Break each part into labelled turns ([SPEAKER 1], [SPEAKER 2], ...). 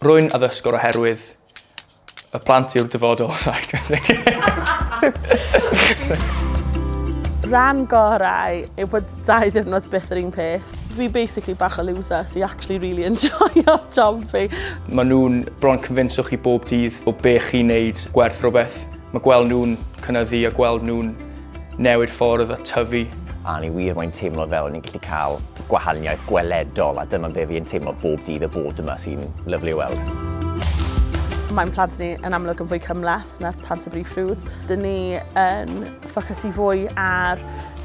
[SPEAKER 1] Rwy'n addysgwr oherwydd y plant yw'r dyfodol. Ran gorau yw bod dau ddiwrnod byth yr un peth. Fi basically bach o loser sy'n actually really enjoyio job fi. Mae nhw'n bron cyfinswch chi bob dydd o be chi'n neud gwerth rhywbeth. Mae gweld nhw'n cynyddu a gweld nhw'n newid ffordd a tyfu. A ni wir mae'n teimlo fel ni'n gallu cael gwahaniaeth gweledol a dyma be fi'n teimlo bob dydd y bod yma sy'n lyflu i weld. Mae'n plant ni yn amlwg yn fwy cymleth na'r plant y brif ffrwd. Dyn ni yn ffocysu fwy ar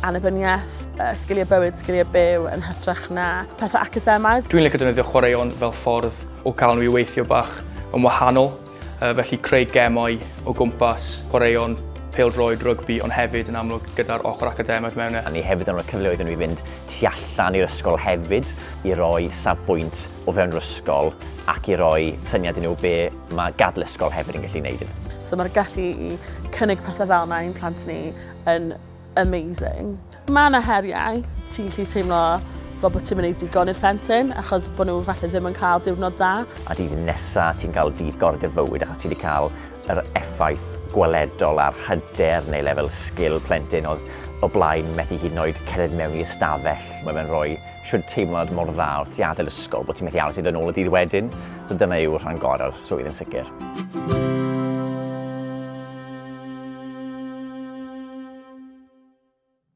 [SPEAKER 1] annibyniaeth, sgiliau bywyd, sgiliau byw yn hytrach na pethau academaidd. Dwi'n licio defnyddio chwaraeon fel ffordd o gael nhw i weithio bach yn wahanol. Felly creu gemau o gwmpas chwaraeon pêl-droed, rygbi ond hefyd yn amlwg gyda'r ochr academaidd mewn e. A ni hefyd yn rhoi cyfleoedd i nhw i fynd tu allan i'r ysgol hefyd i roi safbwynt o fewn yr ysgol ac i roi syniad i nhw be mae gadael ysgol hefyd yn gallu neud. So mae'r gallu i cynnig pethau fel yna i'n plant ni yn amazing. Mae yna heriau. Ti'n gallu teimlo fel bod ti'n mynd i digon i'r plentyn achos bod nhw falle ddim yn cael diwrnod da. A dydd nesa ti'n cael dydd gor dy fywyd achos ti wedi cael yr effaith gweledol ar hyder neu lefel sgil plentyn oedd o blaen methu hyd yn oed cerdded mewn i ystafell. Mae fe'n rhoi siwr teimlad mor dda wrth ti adael ysgol bod ti'n methu aros i ddod yn ôl y dydd wedyn. So dyna yw rhan gorau'r swydd yn sicr.